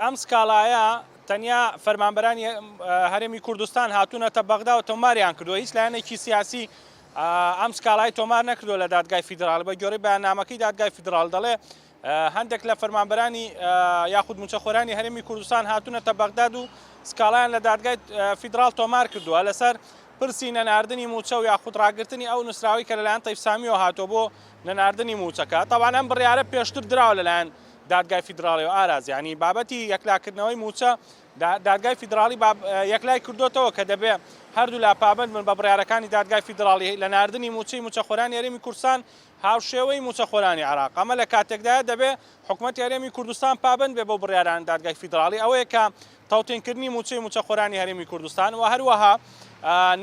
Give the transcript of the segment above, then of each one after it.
ئەم سکاڵایە تەنیا فەرمانبەرانی هەرێمی کوردستان هاتوونەتە بەغدا و تۆماریان کردووە، هیچ لایەنێکی سیاسی ئەم سکاڵای تۆمار نەکردووە لە دادگای فیدراڵی، بە گوێڕەی بەیاننامەکەی دادگای فیدراڵی دەڵێ هەندێک لە فەرمانبەرانی یاخود مووچەخۆرانی هەرێمی کوردستان هاتوونەتە بەغداد و سکاڵایان لە دادگای فیدراڵ تۆمار کردووە لەسەر پرسی نەناردنی مووچە و یاخود ڕاگرتنی ئەو نووسراوەی کە لەلایەن تەیف سامیەوە هاتووە بۆ نەناردنی مووچەکە، تەبعەن ئەم بڕیارە پێشتر دراوە لەلایەن دادگای فیدراڵی و ئاراز یانی بابەتی یەکلاکردنەوەی مووچە دادگای فیدراڵی یەکلای کردوتەوە کە دەبێ هەردوو لا پابند من بە بڕارەکانی دادگای فیدراڵی لە نردنی مووچەی موچەخۆران یاریمی کورسان هاوشێوەی موچەخۆرانی عراق ئەمە لە کاتێکدا دەبێ حکوومەت یاریمی کوردستان پابند بێ بۆ بڕاران دادگای فیدراڵی ئەوەیە کە تاوتێنکردنی موچەی موچەخۆرانی هەرێمی کوردستان و هەروەها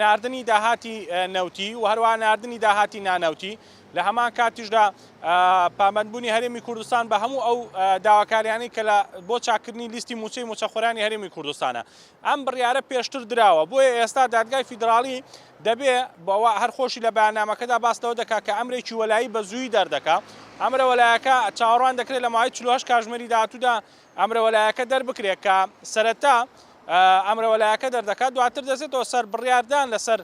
نردنی داهاتی نەوتی و هەروە نردنی داهاتی نانەوتی لە هەمان کاتیشدا پابەندبوونی هەرێمی کوردستان بە هەموو ئەو داواکاریانەی کە لە بۆ چاککردنی لیستی مووچەی مووچەخۆرانی هەرێمی کوردستانە ئەم بڕیارە پێشتر دراوە بۆیە ئێستا دادگای فیدراڵی دەبێ بەوە هەرخۆشی لە بەیاننامەکەدا باس لەوە دەکات کە ئەمرێکی وەلایی بە زووی دەردەکات ئەمرە وەلایەکە چاوەڕوان دەکرێت لە ماوەی 48 کاژمێری داهاتوودا ئەمرەوەلایەکە دەربکرێت کە سەرەتا ئەمرەوەلایەکە دەردەکات دواتر دەزێتەوە سەر بڕیاردان لەسەر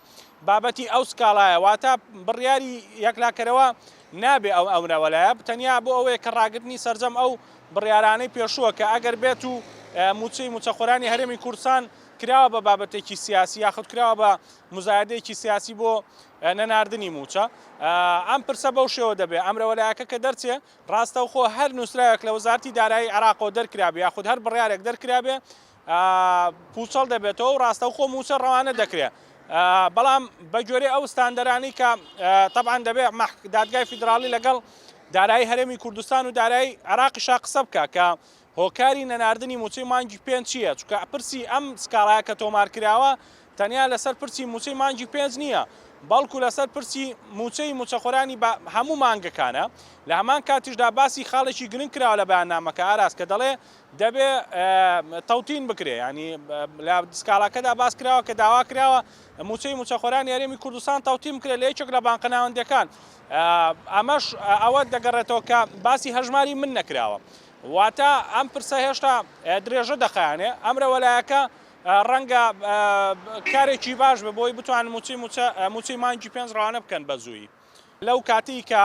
بابەتی ئەو سکاڵایە واتە بڕیاری یەکلاکەرەوە نابێ ئەو ئەمرەوەلایە تەنیا بۆ ئەوەیە کە ڕاگرتنی سەرجەم ئەو بڕیارانەی پێشووە کە ئەگەر بێت و موچەی موچەخۆرانی هەرێمی کوردستان کراوە بە بابەتێکی سیاسی یاخود کراوە بە مزایدەیەکی سیاسی بۆ نەناردنی موچە ئەم پرسە بەو شێوە دەبێت ئەمرەوەلایەکە کە دەرچێت ڕاستەوخۆ هەر نووسراوێک لە وەزارەتی دارایی عێراقەوە دەرکرابێ یاخود هەر بڕیارێک دەرکرابێ پووچەڵ دەبێتەوە و ڕاستەوخۆ مووچە ڕەوانە دەکرێ بەڵام بە گوێرەی ئەو ستاندەرانی کە تەبان دەبێ دادگای فیدراڵی لەگەڵ دارایی هەرێمی کوردستان و دارایی عراقیشا قسە بکە کە هۆکاری نەناردنی مووچەی مانگی پێنج چییە؟ چونکە پرسی ئەم سکاڵایە کە تۆمار کراوە تەنیا لەسەر پرسی مووچەی مانگی پێنج نییە، بەڵکو لەسەر پرسی مووچەی مووچەخۆرانی هەموو مانگەکانە، لە هەمان کاتیشدا باسی خاڵێکی گرنگ کراوە لە بەیاننامەکە ئاراس کە دەڵێ دەبێ تەوتین بکرێ، یانی لە سکاڵاکەدا باس کراوە کە داوا کراوە مووچەی مووچەخۆرانی هەرێمی کوردستان تەوتین بکرێ لە یەکێک لە بانقە ناوەندییەکان، ئەمەش ئەوە دەگەڕێتەوە کە باسی هەژماری من نەکراوە، واتە ئەم پرسە هێشتا درێژە دەخایەنێ، ئەمرە وەلایەکە ڕەنگە کارێکی باش بێ بۆی بتوان موچەی موچە موچەی مانگی پێنج ڕەوانە بکەن بە زوویی. لەو کاتەی کە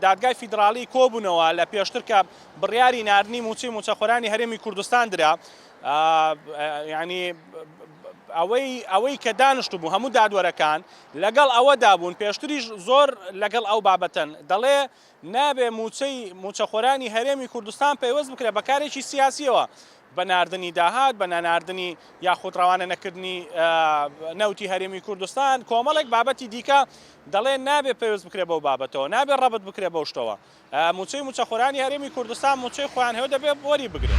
دادگای فیدراڵی کۆبوونەوە لە پێشتر کە بڕیاری ناردنی موچەی موچەخۆرانی هەرێمی کوردستان درا، یانی ئەوەی ئەوەی کە دانشتبوو هەموو دادوەرەکان لەگەڵ ئەوەدا بوون، پێشتریش زۆر لەگەڵ ئەو بابەتەن، دەڵێ نابێ مووچەی مووچەخۆرانی هەرێمی کوردستان پەیوەست بکرێت بە کارێکی سیاسییەوە، بە ناردنی داهات، بە نەناردنی یاخود ڕەوانە نەکردنی نەوتی هەرێمی کوردستان، کۆمەڵێک بابەتی دیکە دەڵێ نابێ پەیوەست بکرێت بەو بابەتەوە، نابێ ڕەبت بکرێت بەو شتەوە. مووچەی مووچەخۆرانی هەرێمی کوردستان مووچەی خۆیان هەیە و دەبێ وەری بگرن.